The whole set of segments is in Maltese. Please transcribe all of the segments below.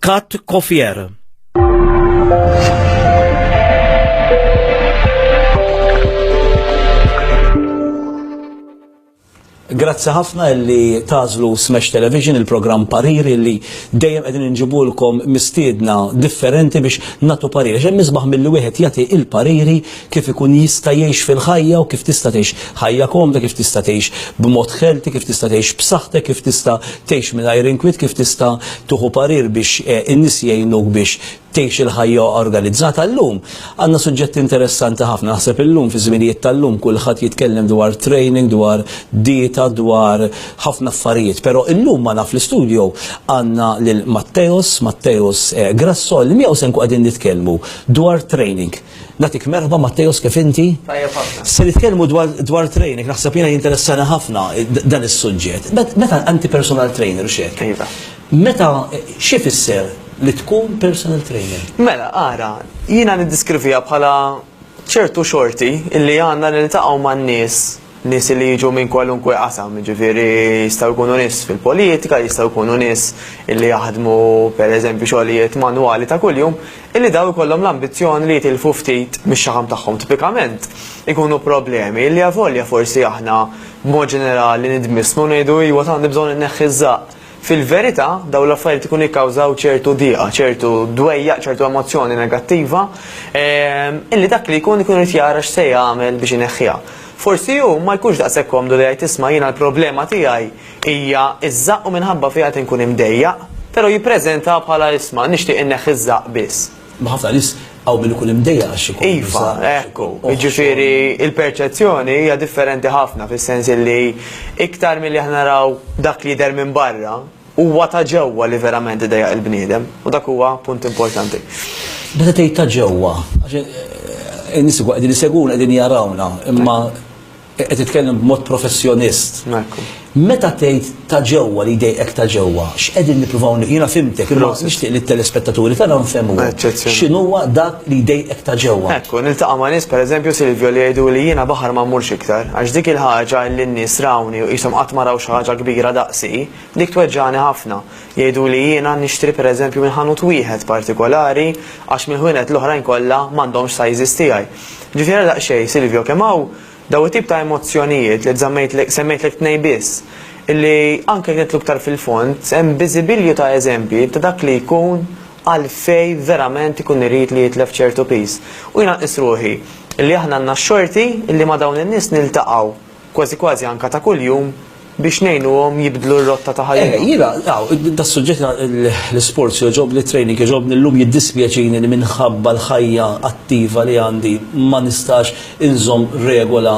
Kat Kofier. Grazzi ħafna li tażlu Smash Television il-programm parir li dejjem qegħdin inġibulkom mistiedna differenti biex natu pariri. Ġem misbaħ mill wieħed jagħti il-pariri kif ikun jista' jgħix fil-ħajja u kif tista' tgħix ħajja komda, kif tista' tgħix b'mod ħelti, kif tista' tgħix b'saħħtek, kif tista' tgħix mingħajr inkwiet, kif tista' tuħu parir biex eh, in-nies jgħinuk biex tgħix il-ħajja organizzata llum. Għandna suġġetti interessanti ħafna naħseb illum fi żminijiet tal-lum kulħadd jitkellem dwar training, dwar dieta, dwar ħafna affarijiet, però illum ma naf l-istudio għandna lil Matteos, Matteos eh, Grasso, li miegħu se nkun qegħdin nitkellmu dwar training. Nagħtik merħba Matteos kif inti? Tajjeb ħafna. Se nitkellmu dwar dwar training, naħseb jiena jinteressana ħafna dan is-suġġett. Meta anti personal trainer x'hekk. Iva. Meta xi fisser li tkun personal trainer? Mela, ara, jiena niddiskrivija bħala ċertu xorti illi għandna li niltaqgħu man-nies Nies li jiġu minn kwalunkwe qasam, jiġifieri jistgħu jkunu nies fil-politika, jistgħu jkunu nies li jaħdmu pereżempju xogħlijiet manwali ta' kuljum, illi dawn ikollhom l-ambizzjoni li jitilfu ftit mix-xaħam tagħhom tipikament ikunu problemi illi avolja forsi aħna b'mod ġenerali nidmissmu u ngħidu iwa tant għandi bżonn inneħħi ż-żaqq. Fil-verità, dawn l-affarijiet ikunu jikkawżaw ċertu diqa, ċertu dwejjaq, ċertu emozzjoni negattiva, illi dak li jkun ikun irid jara x'se jagħmel biex ineħħiha. Forsi hu ma jkunx daqshekk komdu li jgħid isma' jiena l-problema tiegħi hija ż-żaqq u minħabba fiha qed inkun imdejjaq, però jippreżentaha bħala isma' nixtieq inneħħi ż-żaqq biss. Ma ħafna nis għaw min ikun imdejja għax ikun. Iva, ekku. Ġifiri, il-perċezzjoni hija differenti ħafna fis-sens li iktar milli aħna naraw dak li jidher minn barra, huwa ta' ġewwa li verament idejja il-bniedem u dak huwa punt importanti. Meta tgħid ta' ġewwa, għax eh, in-nies qegħdin iseguna qegħdin jarawna, imma Qed titkellem b'mod professjonist. Ekku. Meta tgħid ta' ġewwa li jdejqek ta' ġewwa, x'qegħdin nippruvaw ni- jiena fhimtek, imma Prosit. nixtieq li t-telespettaturi tagħna nfehmuhom Eċċezzjoni. x'inhuwa dak li jdejqek ta' ġewwa. Ekku, niltaqa' ma' nies pereżempju Silvio li jgħiduli jiena baħar ma mmurx iktar, għax dik il-ħaġa li n-nies rawni u qishom qatt ma raw xi ħaġa kbira daqsi, dik tweġġagħni ħafna. Jgħiduli jiena nixtri pereżempju minn ħanut wieħed partikolari għax mill-ħwienet l-oħrajn kollha m'għandhomx size tiegħi. Ġifieri għala daqsxejn, Silvio, kemm hawn dawn it-tip ta' emozzjonijiet li żammejtlek, semmejtlek tnejn biss, illi anke jekk nidħlu iktar fil-fond, hemm biżibilju ta' eżempji ta' dak li jkun għalfejn verament ikun irid li jitlef ċertu piż. U jiena nqis ruħi illi aħna għandna x-xorti illi ma' dawn in-nies niltaqgħu. kważi kważi anke ta' kuljum, biex ngħinuhom jibdlu r-rotta ta' ħajjithom. Eh, jiena, aw, das-suġġett l-isports jogħġobni, it-training jogħġobni, llum jiddispjaċini li minħabba l-ħajja attiva li għandi ma nistax inżomm regola,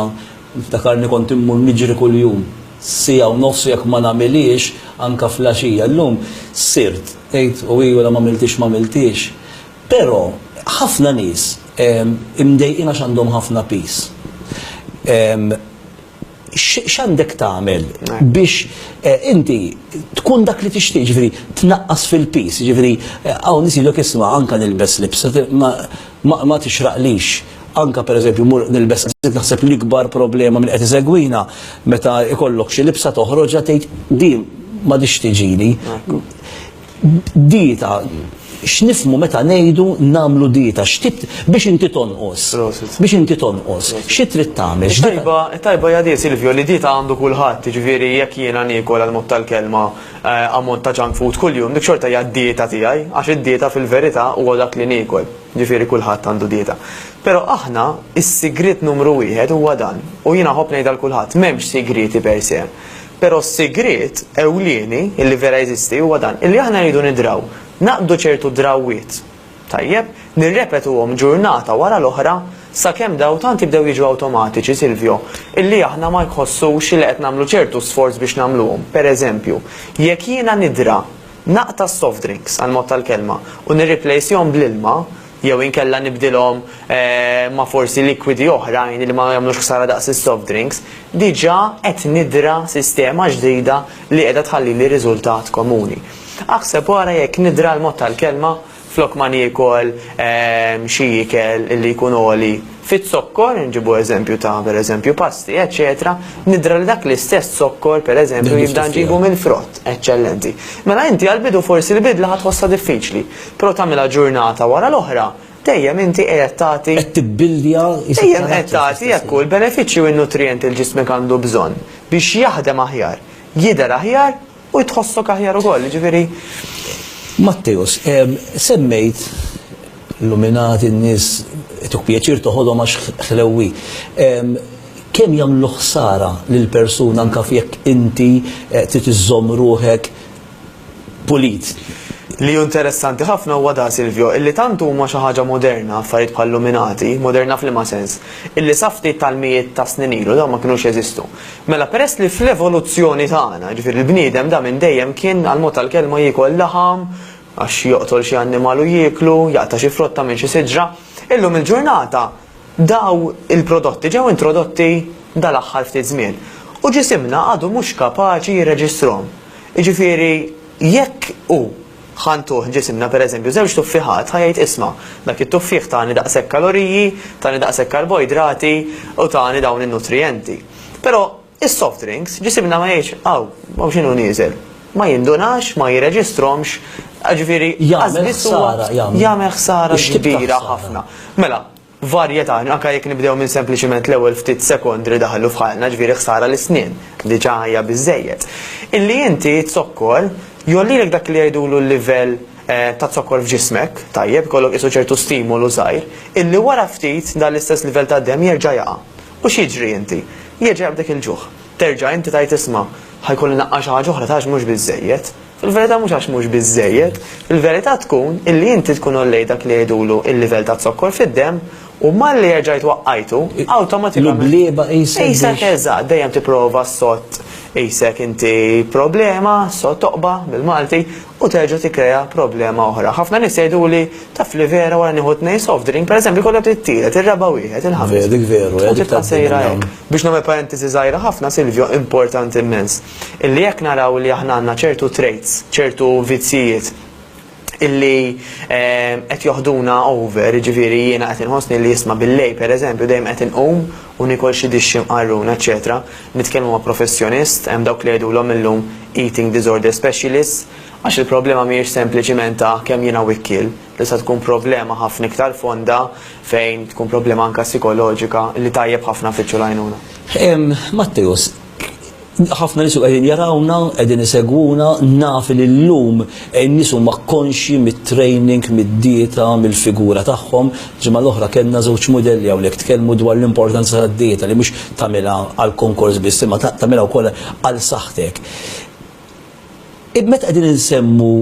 niftakarni kont immur niġri kuljum siegħa u nofs u jekk ma nagħmilhiex anke fl-għaxija. Llum sirt, tgħid u hi wara m'għamiltiex m'għamiltiex. Però, ħafna nies imdejqin għax għandhom ħafna piż. X'għandek tagħmel biex inti tkun dak li tixtieq, jiġifieri tnaqqas fil-piż, jiġifieri hawn nies jgħidlok isma' anke nilbes libsa ma tixraqlix, anke pereżempju mmur nilbes naħseb li l-ikbar problema min qed isegwina meta jkollok xi libsa toħroġha tgħid din m'għadhiex tiġini. Dieta, x'nifhmu meta ngħidu nagħmlu dieta? X'tip biex inti tonqos? Biex inti tonqos, xi trid tagħmel? X'tajba, tajba hija di Silvio li dieta għandu kulħadd, jiġifieri jekk jiena niekol għal mod tal-kelma ammont ta' junk food kuljum, dik xorta hija d-dieta tiegħi, għax id-dieta fil-verità huwa dak li niekol, jiġifieri kulħadd għandu dieta. Però aħna s-sigriet numru wieħed huwa dan, u jiena nħobb ngħidha 'l kulħadd, m'hemmx sigrieti per se. Però s-sigriet ewlieni, li vera jeżisti, huwa dan, illi aħna rridu nidraw, naqbdu ċertu drawwiet, tajjeb, nirrepetuhom ġurnata wara l-oħra sakemm dawn tant jibdew jiġu awtomatiċi, Silvio, illi aħna ma nħossux li qed nagħmlu ċertu sforz biex nagħmluhom. Pereżempju, jekk jiena nidra naqta' s-soft drinks, għall-mod tal-kelma, u nirriplejsjhom bl-ilma, Jew inkella nibdilhom ma' forsi likwidi oħrajn li ma jagħmlux ħsara daqs is-soft drinks, diġà qed nidra sistema ġdida li qiegħda tħallili riżultat komuni. Aħseb u ara jekk nidra l-mod tal-kelma flok ma niekol xi ikel li jkun għoli Fiz-zokkor, inġibu eżempju ta' pereżempju pasti, eċċetera, nidra li dak l-istess zokkor pereżempju jibda nġibu mill-frott. Eċċellenti. Mela inti għall-bidu forsi l-bidla ħa tħossha diffiċli, però tagħmilha ġurnata wara l-oħra, dejjem inti qiegħed tagħti. Qed tibbilja. Dejjem qed tagħti hekk hu l-benefiċċji u n-nutrijenti li ġismek għandu bżonn biex jaħdem aħjar, jidher aħjar, U tħossok aħjar ukoll, jiġifieri. Matteus, semmejt l-luminati, n-nies ituk pjaċir toħodhom għax ħlewwi. Kemm jagħmlu ħsara lill-persuna anke jekk inti trid iżżomm ruħek pulit? Li hu interessanti ħafna huwa da, Silvio, illi tant huma xi ħaġa moderna affarijiet bħal-luminati, moderna f'liema sens, illi sa ftit tal-mijiet ta' snin ilu dawn ma kinux jeżistu. Mela peress li fl-evoluzzjoni tagħna, jiġifieri l-bniedem da minn dejjem kien, għall-mod tal-kelma, jiekol laħam, għax joqtol xi annimal u jieklu, jaqta' xi frotta minn xi siġra, illum il-ġurnata dawn il-prodotti ġew introdotti dal-aħħar ftit żmien u ġisimna għadu mhux kapaċi jirreġistrahom. Jiġifieri jekk hu Ħa ntuh ġisimna, pereżempju, żewġ tuffiħat, ħa jgħid isma', dak it-tuffieħ tani daqshekk kaloriji, tani daqshekk karboidrati u tani dawn in-nutrijenti. Però is-soft drinks, ġisimna ma jgħidx, aw, aw x'inhu nieżel. Ma jindunax, ma jirreġistrhomx, jiġifieri, lanqas biss huwa. Jagħmel ħsara, jagħmel ħsara kbira ħafna. Mela, varjetà, anke jekk nibdew minn sempliċiment l-ewwel ftit sekondi li daħlu f'ħajjtna, jiġifieri ħsara l-isnien, diġà hija biżżejjed. Illi inti t-zokkor jgħollilek dak li jgħidulu l-livell ta' zokkor f'ġismek, tajjeb, ikollok qisu ċertu stimolu żgħir, illi wara ftit dan l-istess livell tad-demm jerġa' jaqa'. U x'jiġri inti? Jerġa' jaqbdek il-ġuħ. Terġa' inti tgħid isma', ħa jkolli naqqa' xi ħaġa oħra, tarax mhux biżżejjed. Fil-verità mhux għax mhux biżżejjed, il-verità tkun illi inti tkun għollejt dak li jgħidulu il-livell taz-zokkor fid-demm u malli erġajt twaqqajtu, awtomatikament. L-ublieba qisek biex. Qisek eżatt, dejjem tipprova ssott qisek inti problema, ssott oqba bil-Malti, u terġa' tikkrea problema oħra. Ħafna nies jgħiduli, taf li vera wara nieħu tnejn soft drink, pereżempju jkollok it-tielet, ir-raba' wieħed, il-ħames. Vera, dik veru, hekk. U tibqa' sejra hekk. Biex nagħmel parentesi żgħira ħafna, Silvio, importanti immens. Illi jekk naraw li aħna għandna ċertu traits, ċertu vizzjijiet illi ehm, qed joħduna over, ġifieri jiena qed inħossni li jisma' billej pereżempju dejjem qed inqum u nikol xi dixxi mqarrun, eċetera. Nitkellmu ma' professjonist, hemm dawk li jgħidulhom illum eating disorder specialist, għax il-problema mhijiex sempliċiment ta' kemm jiena wikkil, tista' tkun problema ħafna iktar fonda fejn tkun problema anka psikoloġika li tajjeb ħafna fiċċu lajnuna. Matteus, Ħafna nies qegħdin jarawna, qegħdin isegwuna, naf li llum in-nies huma konxji mit-training, mid-dieta, mill-figura tagħhom. Ġimgħa l-oħra kellna żewġ mudelli hawnhekk tkellmu dwar l-importanza tad-dieta li mhux tagħmilha għall-konkors biss imma tagħmilha wkoll għal saħħtek. Meta qegħdin insemmu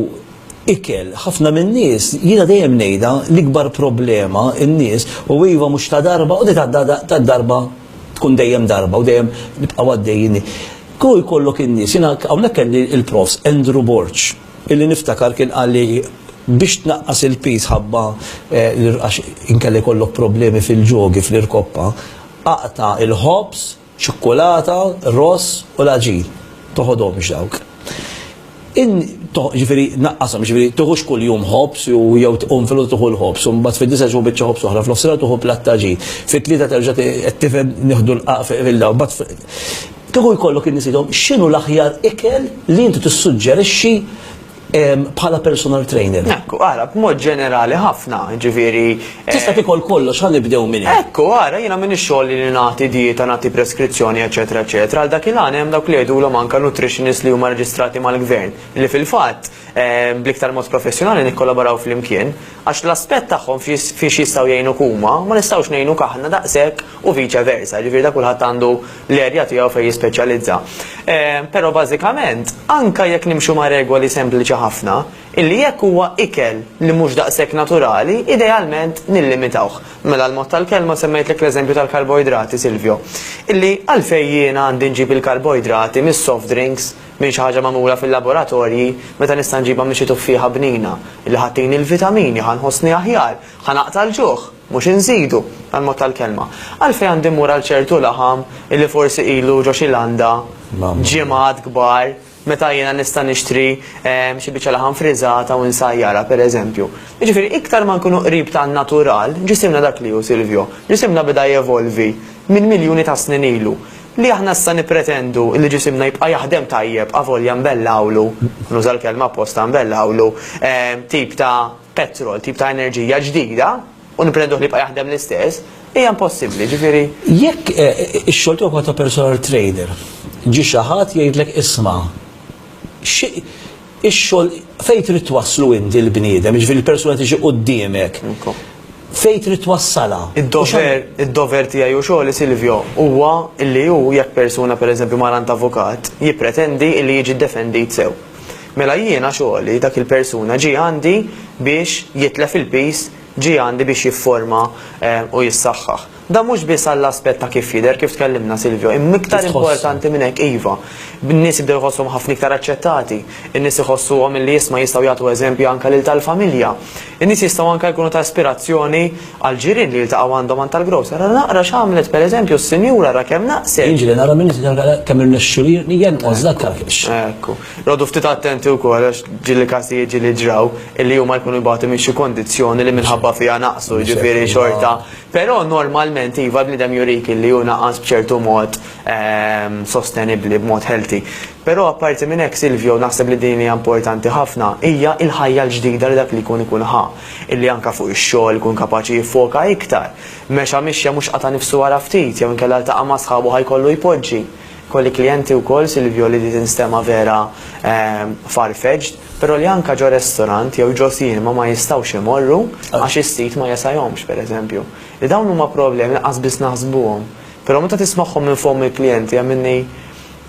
ikel, ħafna min-nies, jiena dejjem ngħidha, l-ikbar problema n-nies, u iva mhux ta' darba u ta' darba tkun dejjem darba u dejjem nibqgħu għaddejjin hi. Hu jkollok in-nies, jiena hawnhekk kelli l-Profs. Andrew Borg, illi niftakar kien qalli biex tnaqqas il-piż ħabba għax inkella jkollok problemi fil-ġogi, fl-irkoppa, aqta' l-ħobż ċikkulata, ross u l-għaġin. Toħodhomx dawk. In ġifieri naqqashom, ġifieri tuħux kuljum ħobż u jew tqum fil tuħu l-ħobż, u mbagħad fid-disa ġu biċċa ħobż oħra, f'nofsinhar tuħu platt ta' ġid. Fit-tlieta terġa' qed tifhem nieħdu l-qaq fil-daw. Kieku jkollok in-nies jgħidhom x'inhu l-aħjar ikel li inti tissuġġerixxi bħala personal trainer. Ekku, għara, b'mod ġenerali ħafna, ġifiri. Eh, Tista' tikol kollox, għan nibdew minn. Ekku, għara, jina minn xogħol li nagħti dieta, nagħti preskrizzjoni, eċetera, eċetera. Għal dak il għan hemm dawk li jgħidulhom anke nutritionist li huma reġistrati mal-gvern, li fil-fatt eh, bliktar mod professjonali nikkolaboraw fl-imkien, għax l-aspett tagħhom fiex jistgħu jgħinu kuma, ma nistgħux ngħinu kaħna daqshekk u viċa versa, ġifiri da kulħadd għandu l-erja tiegħu fejn jispeċjalizza. Però bażikament, anke jekk nimxu ma' regoli sempliċi ħafna, illi jekk huwa ikel li mhux daqshekk naturali, idealment nillimitawh. Mela l-mod tal-kelma semmejtlek l-eżempju tal-karboidrati, Silvio. Illi għalfejn jiena għandi nġib il-karboidrati mis-soft drinks, minn xi ħaġa magħmula fil-laboratorji, meta nista' nġibha minn xi tuffieħa bnina, illi ħa tini l-vitamini, ħa nħossni aħjar, ħa naqta' l-ġuħ? Mhux inżidu, għall-mod tal-kelma. Għalfejn għandi mmur għal ċertu laħam illi forsi ilu ġo xi landa ġimgħat kbar meta jiena nista' nixtri xi biċċa laħam friżata u nsajjarha, pereżempju. Jiġifieri, iktar ma nkunu qrib tan-natural, ġisimna dak li hu, Silvio, ġisimna beda jevolvi minn miljuni ta' snin ilu. Li aħna issa nippretendu li ġisimna jibqa' jaħdem tajjeb avolja nbellgħulu, nuża l-kelma apposta nbellgħulu, tip ta' petrol, tip ta' enerġija ġdida, u nippretenduh li jibqa' jaħdem l-istess, hija impossibbli, ġifieri. Jekk ix-xogħol tiegħu bħala ta' personal trader, ġie xi ħadd jgħidlek isma' xi x-xogħol fejn trid twasslu inti l-bniedem, jiġifieri l-persuna tiġi quddiemek, fejn trid twassalha? Id-dover, id-dover tiegħi u xogħli Silvio huwa li hu jekk persuna pereżempju mar għand avukat, jippretendi li jiġi ddefendit sew. Mela jiena xogħli, dak il-persuna ġie għandi biex jitlef il-piż, ġie għandi biex jifforma u jissaħħaħ. Dan mhux biss għall-aspett ta' kif jidher, kif tkellimna Silvio, imma iktar importanti minn hekk iva, n-nies jibdew iħossuhom ħafna iktar aċċettati, in-nies iħossuhom li isma' jistgħu jagħtu eżempji anke lil tal-familja. In-nies jistgħu anke jkunu ta' ispirazzjoni Għall-ġirien li jiltaqgħu għandhom għan tal-grocer, ara naqra x'għamlet, per eżempju, s-sinjura, ara kemm naqset! Jiġri li nara min jitgħallem kemm irnexxilih jenqos dak tal-kexx. Ekku. Noqogħdu ftit attenti wkoll għax ġieli każijiet ġieli ġraw illi huma jkunu jbatu minn xi kondizzjoni li minħabba fiha naqsu, jiġifieri xorta. Però normalment iva l-bniedem jurik illi hu naqas b'ċertu mod sostenibbli, b'mod healthy. Però apparti minn hekk, Silvio, naħseb li din hija importanti ħafna, hija l-ħajja l-ġdida li dak li jkun ikun ħa. Illi anke fuq ix-xogħol ikun kapaċi jiffoka iktar. Mexa mixja mhux qata' nifsu wara ftit, jew inkella ltaqa' ma' sħabu ħa jkollu jpoġġi. Kolli klijenti wkoll, Silvio, li di tinstema' vera far-fetched, però li anke ġo restorant jew ġo cinema ma jistgħux imorru għax is-sit ma jesajhomx, per eżempju. Li dawn huma problemi li qas biss naħsbuhom. Però meta tismagħhom minn fomm il-klijenti hemm minni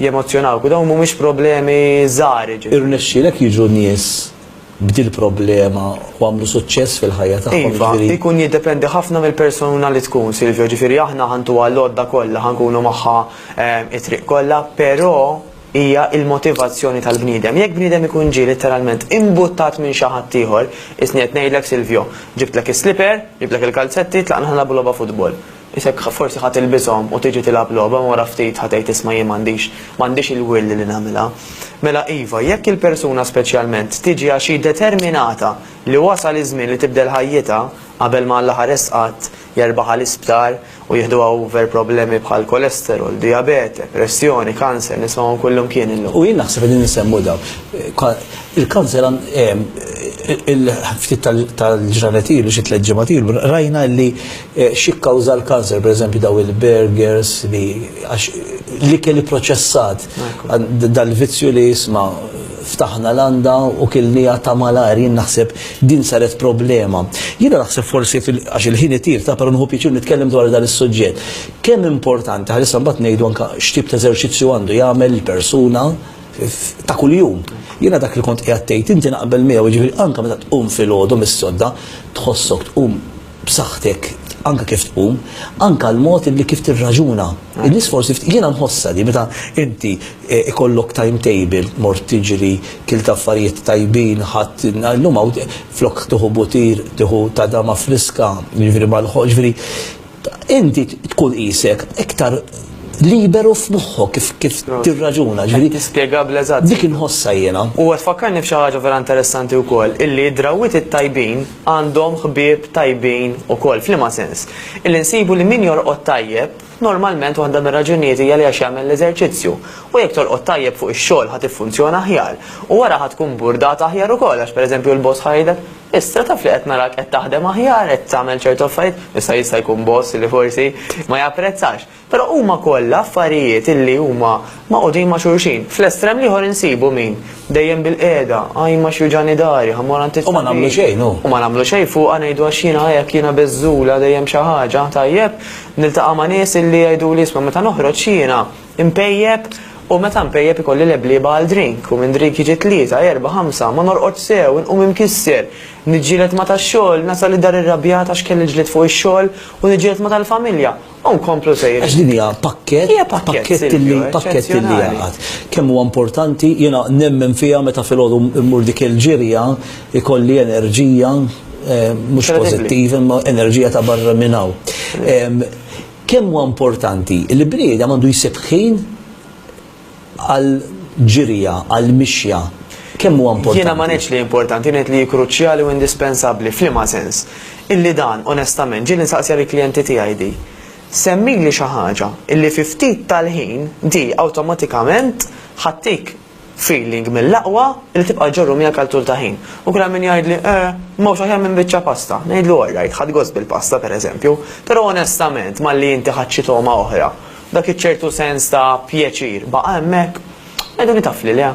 jemozzjonawk u dawn mhumiex problemi żgħar, jiġifieri. Irnexxielek jiġu nies b'dil-problema u għamlu suċċess fil-ħajja tagħhom. Iva, jiġifieri ikun jiddependi ħafna mill-persuna li tkun, Silvio, ġifieri aħna ħa ntuha l-għodda kollha, ħa nkunu magħha ehm, it-triq kollha, però hija il-motivazzjoni tal-bniedem. Jekk bniedem ikun ġie letteralment imbuttat minn xi ħadd ieħor, isni qed ngħidlek Silvio, ġibtlek is-sliper, ġibtlek il-kalzetti, tlaqna ħna logħba futbol. Isek forsi ħa tilbishom u tiġi tilgħab logħba imma wara ftit ħa tgħid isma' jien m'għandix m'għandix il-will li nagħmilha. Mela iva, jekk il-persuna speċjalment tiġi għax hi determinata li wasal iż-żmien li tibdel ħajjitha qabel ma Alla ħares qatt jerbaħha l-isptar u jiħduha over problemi bħal cholesterol, dijabete, pressjoni, kanser, nismagħhom kullimkien illum. U jien naħseb qegħdin insemmu dawn. Il-kanser ftit tal-ġranet ilu xi tliet ġimgħat ilu rajna li Xikkawża l-kanser, pereżempju daw il-burgers li għax l-ikel ipproċessat dal-vizzju li isma' ftaħna landa u kilniha ta' malajr jien naħseb din saret problema. Jiena naħseb forsi għax il-ħin itir ta' però nieħu pjaċir nitkellem dwar dan is-suġġett. Kemm importanti ħalissa mbagħad ngħidu anke x'tip ta' eżerċizzju għandu jagħmel il-persuna ta' kuljum. Jiena dak li kont qiegħed tgħid inti naqbel miegħu jiġifieri anke meta tqum filgħodu mis-sodda tħossok tqum b'saħħtek anke kif tqum, anke l-mod li kif tirraġuna. In-nies forsi ftit, jiena nħossha di meta inti ikollok timetable, mort tiġri, kilt affarijiet tajbin, ħadt, illum hawn flok tieħu butir, tieħu tadama friska, jiġifieri mal-ħoss, jiġifieri inti tkun qisek iktar liberu f'moħħok kif tirraġuna, jiġifieri. Qed tispjega bl-eżatt. Dik inħossha jiena. U qed tfakkarni f'xi ħaġa vera interessanti wkoll, illi d-drawwiet it-tajbin, għandhom ħbieb tajbin ukoll. F'liema sens? Illi nsibu li min jorqod tajjeb, normalment waħda mir-raġunijiet hija li għax jagħmel l-eżerċizzju. U jekk torqod tajjeb fuq ix-xogħol ħa tiffunzjona aħjar. U wara ħa tkun burdata aħjar ukoll għax pereżempju l-boss ħa jgħidlek, Issa taf li qed narak qed taħdem aħjar, qed tagħmel ċertu affarijiet, issa jista' jkun boss li forsi ma japprezzax. Però huma kollha affarijiet li huma magħqudin ma' xulxin. Fl-estrem l-ieħor insibu min, dejjem bil-qiegħda, ajn ma x'juġagħni dari, ħa mmur għand it-tabib. U ma nagħmlu xejn hu. U ma nagħmlu xejn fuqha ngħidu għax jiena hekk, jiena beżżula, dejjem xi ħaġa. Tajjeb, niltaqa' ma' nies li jgħiduli isma' meta noħroġ jiena mpejjep u meta mpejjep ikolli leblieba għal drink u minn drink jiġi tlieta, erbgħa, ħamsa, ma norqodx sew, inqum imkisser, niġġieled ma' tax-xogħol, nasal id-dar irrabjat għax kelli l-ġlied fuq ix-xogħol u niġġieled ma' tal-familja. U nkomplu sejrin. Għax din hija pakkett, Hija pakkett, pakkett Silvio, li pakkett li eċċezzjonali. jaqgħad. Kemm huwa importanti, jiena nemmen fiha meta filgħodu mmur dik il-ġirja jkolli enerġija eh, mhux Kredibbli. pożittiva imma enerġija ta' barra minn hawn. Em, Kemm huwa importanti li bniedem għandu jsib ħin għall-ġirja, għall-mixja, kemm huwa importanti? Jiena ma ngħidx li importanti, ngħid li hi kruċjali u indispensabbli. F'liema sens? Illi dan, onestament, ġieli nsaqsiha lill-klijenti tiegħi di. Semmili xi ħaġa illi fi ftit tal-ħin di awtomatikament ħattik feeling mill-aqwa illi tibqa' ġġorru miegħek għal tul ta' ħin. U kien hemm min jgħidli, eh, m'hawnx aħjar minn biċċa pasta. Ngħidlu, all right, ħadt gost bil-pasta, pereżempju, però onestament malli inti ħadt xi togħma oħra, Dak iċ-ċertu sens ta' pjaċir baqa' hemmhekk? Għiduni taf li le.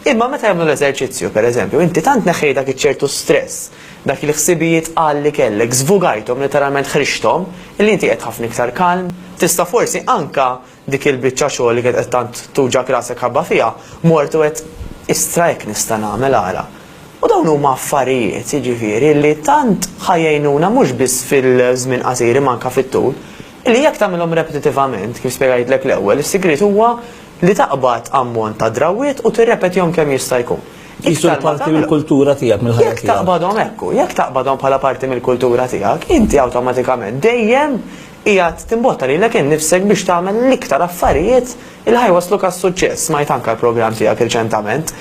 Imma meta jagħmlu l-eżerċizzju, per eżempju, inti tant neħħejt dak iċ-ċertu stress, dak il-ħsibijiet tqal li kellek, żvugajthom, letteralment ħriġthom, li inti qiegħed ħafna iktar kalm. Tista' forsi anke dik il-biċċa xogħol li kienet qed tant tuġgħek rasek ħabba fiha, mort u għedt, istra hekk nista' nagħmel ara. U dawn huma affarijiet, jiġifieri, li tant ħa jgħinuna mhux biss fil-żmien qasir imma anke fit-tul. Li jekk tagħmilhom repetitivament, kif spjegajtlek l-ewwel, is-sigriet huwa li taqbad ammont ta' drawwiet u tirrepetihom kemm jista' jkun. Qisu li parti mill-kultura tiegħek, mill-ħajja tiegħek. Jekk taqbadhom hekk hu, jekk taqbadhom bħala parti mill-kultura tiegħek, inti awtomatikament dejjem qiegħed timbotta lilek innifsek biex tagħmel l-iktar affarijiet li ħa jwasslu għas-suċċess. Smajt anke l-programm tiegħek riċentament.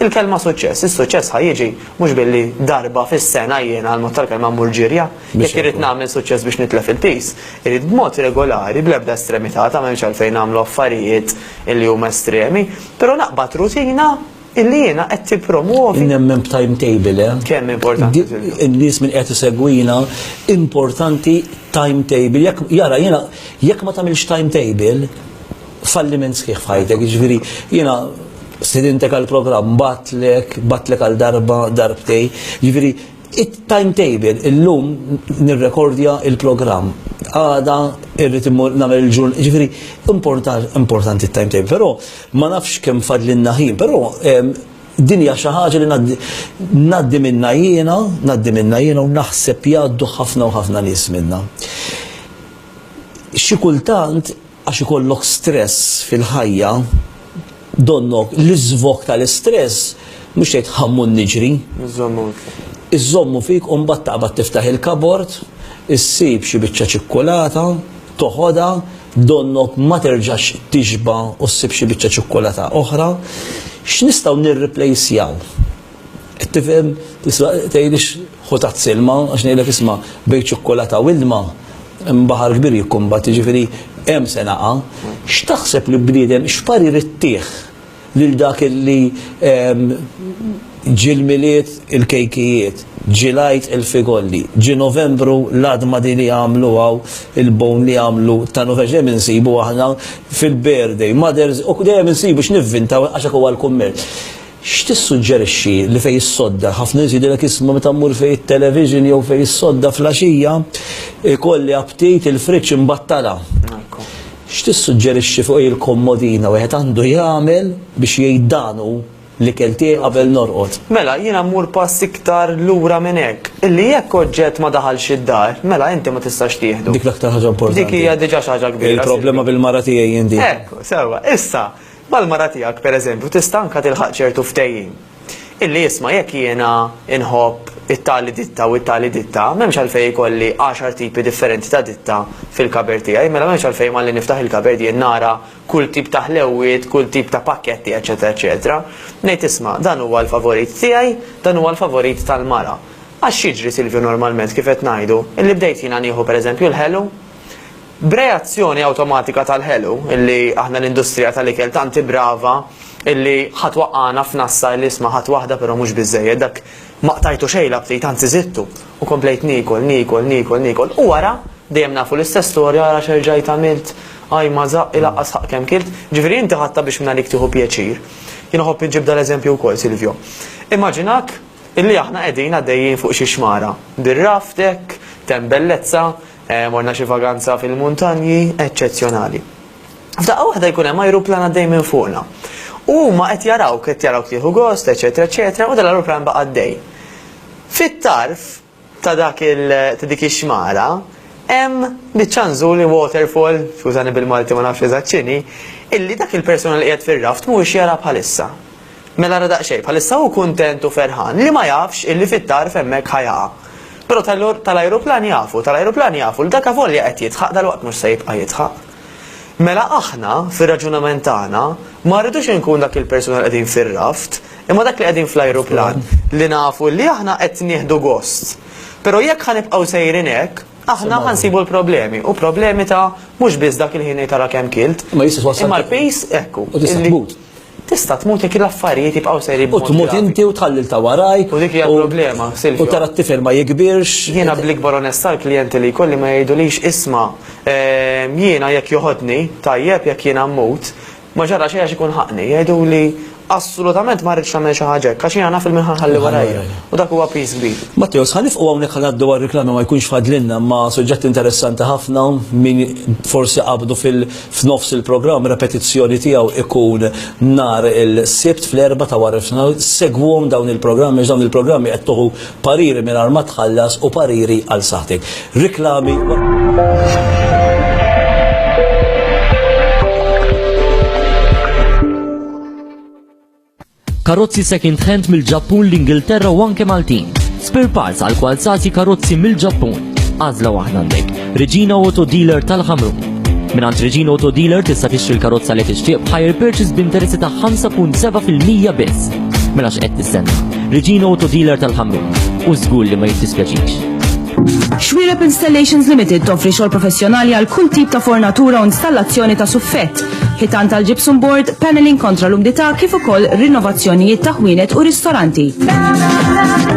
Il-kelma suċċess, is-suċċess ħa jiġi mhux billi darba fis-sena jiena għall-mod tal-kelma mmur ġirja. Jekk irrid nagħmel suċċess biex nitlef il-piż, irrid b'mod regolari, bl-ebda estremità, ta' m'hemmx għalfejn nagħmlu affarijiet illi huma estremi, però naqbad rutina illi jiena qed tippromwovi. Nemmen b'timetable, eh? Kemm importanti. In-nies min qed isegwina, importanti timetable. Jekk jara jiena jekk ma tagħmilx timetable, falliment sħiħ f'ħajtek, jiġifieri jiena stidintek għal programm, batlek, batlek għal darba, darbtej, jiġifieri it-timetable illum nirrekordja il-programm. Għada irrid immur nagħmel il-ġurn, ġifieri importanti t-timetable, però ma nafx kemm fadlinna ħin, però ehm, din hija xi ħaġa li ngħaddi minna jiena, ngħaddi minna jiena u naħseb jgħaddu ħafna u ħafna nies minna. Xi kultant Għax ikollok stress fil-ħajja, donnok l-iżvog tal-istress mhux tgħid ħammur niġri. Iżżommu fik. Iżżommu fik u mbagħad taqbad tiftaħ il-kabord, issib xi biċċa ċikkulata, toħodha, donnok ma terġax tixba' u ssib xi biċċa ċikkulata oħra. X'nistgħu nirriplejsjaw? Tifhem, tista' tgħidlix ħu tazz ilma, għax ngħidlek isma' bejn ċokkolata u ilma hemm baħar kbir jikkumbatti, jiġifieri hemm se naqa'. X'taħseb li bniedem, x'parir ittih lil dak li ġie l-Milied il-kejkijiet, ġie l-Għid il-figolli, ġie Novembru l-għadma din li għamlu hawn il-bone li għamlu ta' Novembru, dejjem insibu aħna fil-birthday, mother's, dejjem insibu x'nivvintaw għax hekk huwa l-kummerċ. X'tissuġġerixxi li fejn issodda? Ħafna nies jgħidilek isma' meta mmur fejn it-television jew fejn issodda fl-għaxija jkolli aptit il-fridge imbattala. X'tissuġġerixxi fuq hi l-kommodina wieħed għandu jagħmel biex jgħid dan hu l-ikel tiegħi qabel norqod? Mela, jiena mmur pass iktar lura minn hekk, illi jekk oġġett ma daħalx id-dar, mela inti ma tistax tieħdu. Dik l-aktar ħaġa importanti. Dik hija diġà xi ħaġa kbira. Il-problema bil-mara tiegħi jien din. Hekk, sewwa. Issa, Mal-mara tiegħek, pereżempju, tista' anke tilħaq ċertu ftehim. Illi isma' jekk jiena nħobb it-tali ditta u t-tali ditta, m'hemmx għalfejn ikolli għaxar tipi differenti ta' ditta fil-kaber tiegħi, mela m'hemmx għalfejn malli niftaħ il-kaber jien nara kull tip ta' ħlewwiet, kull tip ta' pakketti, eċċetera eċċetera. Ngħid isma', dan huwa l-favorit tiegħi, dan huwa l-favorit tal-mara. Għax x'jiġri, Silvio, normalment, kif qed ngħidu, illi bdejt jiena nieħu pereżempju l-ħelu? B'reazzjoni awtomatika tal-ħelu, illi aħna l-industrija tal-ikel tant hi brava illi ħa twaqqagħna f'nassa illi isma' ħadt waħda però mhux biżżejjed, dak ma qtajtu xejn l-aptit anzi żidtu, u komplejt niekol, niekol, niekol, niekol, u wara, dejjem nafu l-istess storja, ara x'erġajt għamilt, ajj ma żaqqi laqqas ħaqq kemm kilt, ġifieri inti ħadtha biex mingħalik tieħu pjaċir. Jien iħobb inġib dal-eżempju wkoll Silvio. Immaġinak illi aħna qegħdin għaddejjin fuq xi xmara, bir-raft hekk, t'hemm bellezza, Morna xi vaganza fil-muntanji eċċezzjonali. F'daqqa waħda jkun hemm ajruplan għaddej minn fuqna. U huma qed jarawk, qed jarawk tieħu gost, eċetera, eċetera, u dan l-ajruplan baqa' għaddej. Fit-tarf ta' dak il ta' dik ix-xmara hemm biċċa nżuli waterfall, skużani bil-Malti ma nafx eżatt x'inhi, illi dak il-persuna li qiegħed fir-raft mhuwiex jara bħalissa. Mela ara daqsxejn, bħalissa hu kuntent u ferħan li ma jafx illi fit-tarf hemmhekk ħa jaqa'. Però tal-ajruplan jafu, tal-ajruplan jafu li dak avolja qed jidħaq dalwaqt mhux se jibqa' jidħaq. Mela aħna, fir-raġunament tagħna, ma rridux inkun dak il-persuna li qegħdin fir-raft, imma dak li qegħdin fl-ajruplan, li nafu illi aħna qed nieħdu gost. Però jekk ħa nibqgħu sejrin hekk, aħna ħa nsibu l-problemi, u problemi ta' mhux biss dak il-ħin ngħid ara kemm kilt, imma l-piż, ekku. Tista' tmut jekk l-affarijiet jibqgħu sejrin b'mod gravi. U tmut inti u tħalli 'l ta' warajk. U dik hija l-problema, Silvio. U tara t-tifel ma jikbirx. Jiena bl-ikbar onestà l-klijenti li jkolli ma jgħidulix isma', jiena jekk joħodni, tajjeb, jekk jiena mmut, ma ġara xejn għax ikun ħaqni. Jgħiduli assolutament ma rridx tagħmel xi ħaġa hekk għax jiena naf il-min ħa nħalli warajja. U dak huwa piż kbir. Matteos, ħa nifqu hawnhekk ħa ngħaddu għar-riklami ma jkunx fadlilna imma suġġett interessanti ħafna, min forsi qabdu fil, f'nofs il-programm repetizzjoni tiegħu ikun nhar il-Sibt fl-erba' ta' wara f'nofsinhar, segwhom dawn il-programmi għax dawn il-programmi qed tuħu pariri mingħajr ma tħallas u pariri għal saħħtek. Riklami Karozzi second hand mill-Ġappun, l-Ingilterra u anke Maltin. Spare parts għal kwalzati karozzi mill-Ġappun. Għazla waħda għandek. Regina Auto Dealer tal-Ħamru. Minn għand Regina Auto Dealer tista' tixtri l-karozza li tixtieq b'hire purchase b'interessi ta' 5.7% biss. Mela x'qed tistenna. Regina Auto Dealer tal-Ħamru. U żgur li ma jittispjaċix. Xwirep Installations Limited toffri xogħol professjonali għal kull tip ta' fornatura u installazzjoni ta' suffett. ħitan tal-gypsum board, paneling kontra l-umdità kif ukoll rinnovazzjonijiet ta' ħwienet u ristoranti.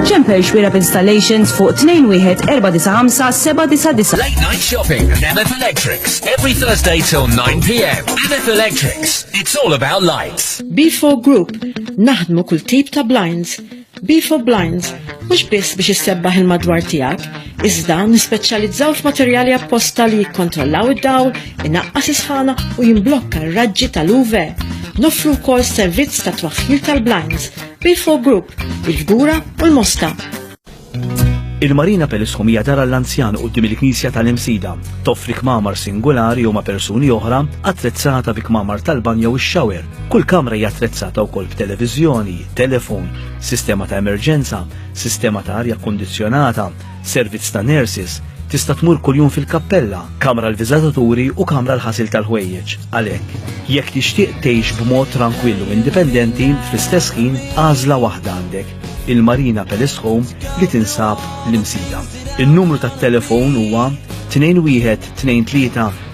Ċempel xwira b'installations fuq 21495 Late night shopping at MF Electrics every Thursday till 9 p.m. MF Electrics, it's all about lights. B4 Group, naħdmu kull tip ta' blinds Be for Blinds, mhux biss biex issebbaħ il-madwar tiegħek, iżda nispeċjalizzaw f'materjali apposta li jikkontrollaw id-dawl, inaqqas isħana u jimblokka r-raġġi tal-UV. Nofru wkoll servizz ta' twaħħil tal-blinds, Be for Group, il-Fgura u l-Mosta. Il-Marina Pelisħum hija dara l-anzjan qudiem il-Knisja tal-Imsida. Toffri kmamar singolari u ma' persuni oħra attrezzata bi kmamar tal-banjo u x-xawer Kull kamra hija attrezzata wkoll b'televiżjoni, telefon, sistema ta' emerġenza, sistema ta' arja kkundizzjonata, servizz ta' nurses, tista' tmur kuljum fil-kappella, kamra l-viżataturi u kamra l-ħasil tal-ħwejjeġ. Għalhekk, jekk tixtieq tgħix b'mod trankwill u indipendenti, fl-istess ħin għażla waħda għandek, il-Marina Palace Home li tinsab l-Imsida. In-numru tat-telefon huwa 2123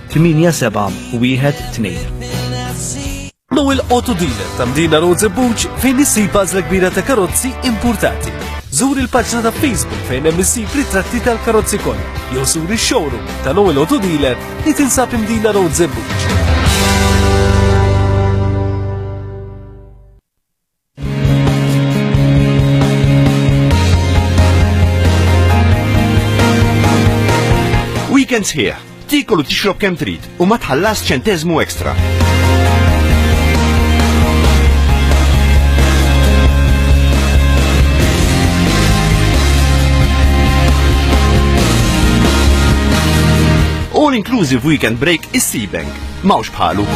8712 Now il-auto dealer ta' Mdina Roads Buċ fejn issib bażla kbira ta' karozzi importati. Zur il-paġna ta' Facebook fejn hemm issib ritratti tal-karozzi kollha jew sur ix-showroom ta' Now il-auto dealer li tinsab Mdina Roads Buċ. Weekend sħiħ, tikol u tixrob kemm trid u ma tħallas ċentezmu ekstra. All inclusive weekend break is Seabank. Mawx bħalu.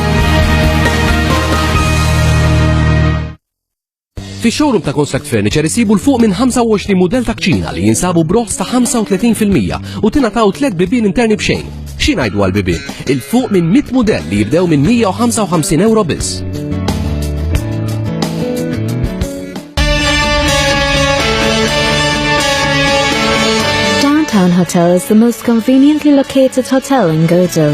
Fi showroom ta' Construct Furniture isibu l-fuq minn 25 model ta' kċina li jinsabu broħs ta' 35% u tingħataw tliet bibien interni b'xejn. Xi ngħidu għal bibien? Il-fuq minn 100 model li jibdew minn 155 euro biss. Downtown Hotel is the most conveniently located hotel in Gozo.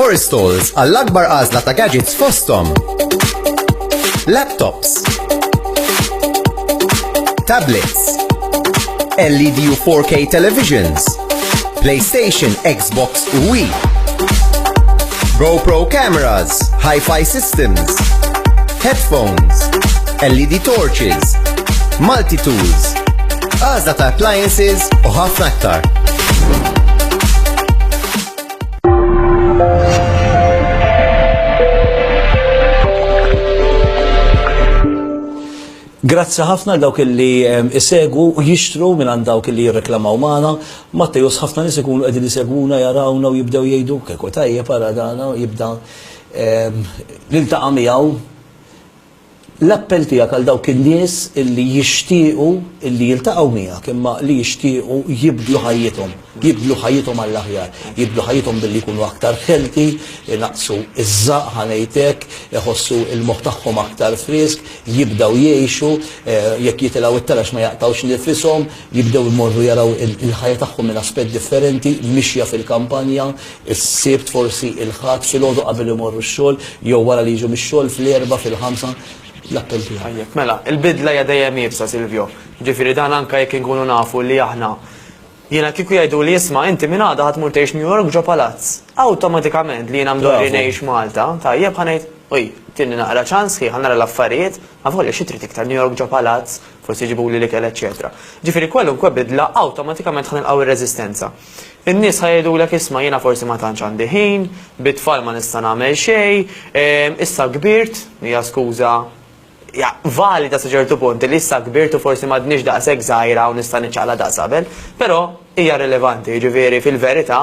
Forest Tools għall-akbar għażla ta' gadgets fosthom. Laptops. Tablets. LED u 4K televisions. PlayStation, Xbox u Wii. GoPro cameras, hi-fi systems, headphones, LED torches, multi-tools, għażla ta' appliances u ħafna aktar. Grazzi ħafna dawk li isegwu u jixtru minn għand dawk li jirreklamaw magħna. Mattejus ħafna nies ikunu qegħdin isegwuna jarawna u jibdew jgħidu kieku tajjeb ara dana jibda l-intaqa' miegħu L-appell tiegħek għal dawk in-nies li jixtiequ li jiltaqgħu miegħek imma li jixtiequ jibdlu ħajjithom, jibdlu ħajjithom għall-aħjar, jibdlu ħajjithom billi jkunu aktar healthy, inaqqsu ż-żaqq ħa ngħid hekk, iħossu l-moħħ tagħhom aktar frisk, jibdew jgħixu, jekk jitilgħu t-taraġ ma jaqtgħux nifishom, jibdew imorru jaraw il-ħajja tagħhom minn aspett differenti, mixja fil-kampanja, Is-Sibt forsi, il-Ħadd filgħodu qabel imorru x-xogħol jew wara li jiġu mix-xogħol, fl-Erbgħa, fil-Ħamsa, l-appell tiegħi. Tajjeb, mela, il-bidla hija dejjem iebsa, Silvio. Jiġifieri dan anke jekk inkunu nafu li aħna. Jiena kieku jgħiduli isma' inti minn għada ħa tmur tgħix New York ġo palazz, awtomatikament li jiena mdorri ngħix Malta, tajjeb ħa ngħid, uj, tini naqra ċans ħi ħa nara l-affarijiet, avolja xi trid iktar New York ġo palazz, forsi jġibuli l-ikel eċċetera. Jiġifieri kwalunkwe bidla awtomatikament ħa nilqgħu r-reżistenza. In-nies ħa jgħidulek isma' jiena forsi ma tantx għandi ħin, bit-tfal ma nista' nagħmel xejn, issa kbirt, hija skuża ja valida sa ċertu punt li issa kbirt u forsi m'għadniex daqshekk żgħira u nista' niċċaqla daqs qabel, però hija rilevanti, jiġifieri fil-verità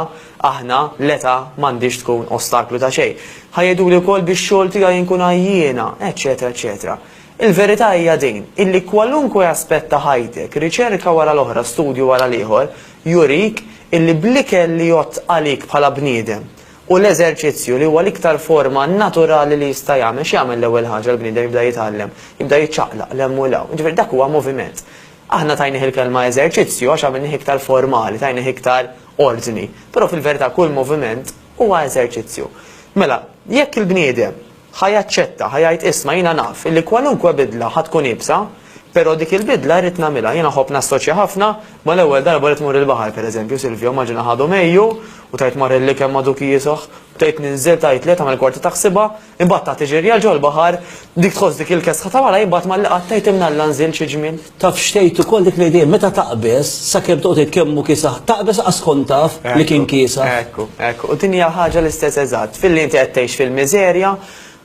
aħna l-età m'għandhiex tkun ostaklu ta' xejn. Ħa jgħiduli wkoll bix-xogħol tiegħi nkun għajjiena, eċċetera eċċetera. Il-verità hija din, illi kwalunkwe aspett ta' ħajtek, riċerka wara l-oħra, studju wara l-ieħor, jurik illi bl-ikel li jgħodd għalik bħala bniedem u l-eżerċizzju li huwa l-iktar forma naturali li jista' jagħmel, x'jagħmel l-ewwel ħaġa l-bniedem jibda jitgħallem? Jibda jiċċaqlaq 'l hemm u 'l hawn. Jiġifieri dak huwa moviment. Aħna tajnih il-kelma eżerċizzju għax għamilnih iktar formali, tajnih iktar ordni, però fil-verità kull moviment huwa eżerċizzju. Mela, jekk il-bniedem, Ħa jaċċetta, ħa jgħid, 'Isma', jiena naf illi kwalunkwe bidla ħa tkun iebsa, però dik il-bidla rrid nagħmilha. Jiena nħobb nassoċja ħafna mal-ewwel darba li tmur il-baħar, pereżempju, Silvio, immaġina ħadu Mejju u tgħid mar il-likem ma' Duki Isoh, bdejt ninżel, tgħidli, tagħmel kwarti ta' ħsiebha, imbagħad tagħti ġirja 'l ġol-baħar, dik tħoss dik il-kesħa ta' wara, imbagħad malli qatt tgħid 'imnalla nżilt xi ġmiel. Taf x'tgħid ukoll dik l-idea meta taqbeż sakemm toqgħod tgħid kemm hu kiesaħ, taqbeż lanqas tkun taf li kien kiesaħ. Ekku, ekku. U din hija ħaġa l-istess eżatt. Filli inti qed tgħix fil-miżerja,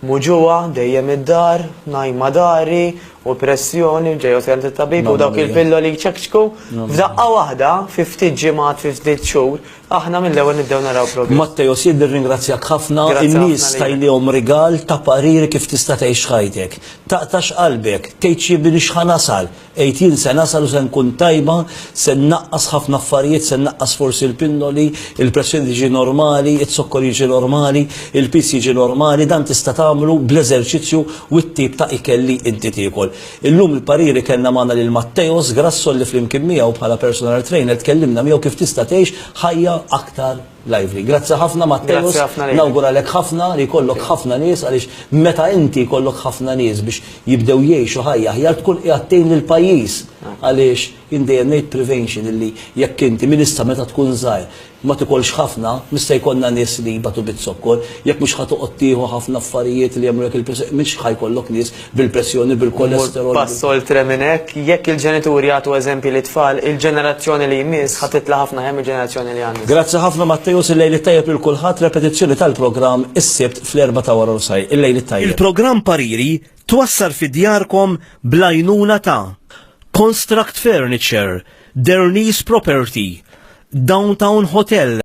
muġugħa, dejjem id-dar, ngħajma dari, u pressjoni, u ġej u tgħid lit-tabib u dawk il-pilloli jċekċku, f'daqqa waħda, fi ftit ġimgħat, fi ftit xhur, Aħna mill-ewwel nibdew naraw progress. Matthios, jien nirringrazzjak ħafna, in-nies tajniehom rigal ta' pariri kif tista' tgħix ħajtek. Taqtax qalbek, tgħidx jien m'iniex ħa nasal, għid jien se nasal u se nkun tajba, se nnaqqas ħafna affarijiet, se nnaqqas forsi l-pinnoli, il-pressjoni tiġi normali, iz-zokkor jiġi normali, il-piż jiġi normali, dan tista' tagħmlu bl-eżerċizzju u t-tip ta' ikel li inti tiekol. Illum il-pariri kellna magħna lil Matteos Grasso li flimkien miegħu bħala personal trainer tkellimna miegħu kif tista' tgħix ħajja aktar lively. Grazzi ħafna Matteos, nawguralek ħafna li jkollok ħafna nies għaliex meta inti jkollok ħafna nies biex jibdew jgħixu ħajja aħjar tkun qiegħed tgħin lill-pajjiż għaliex jien dejjem ngħid prevention illi jekk inti min issa meta tkun żgħir Ma tikolx ħafna, mhux se jkollna nies li jbatu biz-zokkor. Jekk mhux ħa toqgħod tieħu ħafna affarijiet li jagħmlulek il-pressjoni, mhux ħa jkollok nies bil-pressjoni, bil-kolesterol. Immur pass oltre minn hekk, jekk il-ġenituri jagħtu eżempji lit-tfal, il-ġenerazzjoni li jmiss ħa titla' ħafna aħjar mill-ġenerazzjoni li għandna. Grazzi ħafna Matteus, il-lejl it-tajjeb lil kulħadd, repetizzjoni tal-programm is-Sibt fl-erbgħa ta' waranofsahar. Il-lejl it-tajjeb. Il-programm Pariri Twassar fi djarkom bl-għajnuna ta' Construct Furniture, Derni's Property, Downtown Hotel,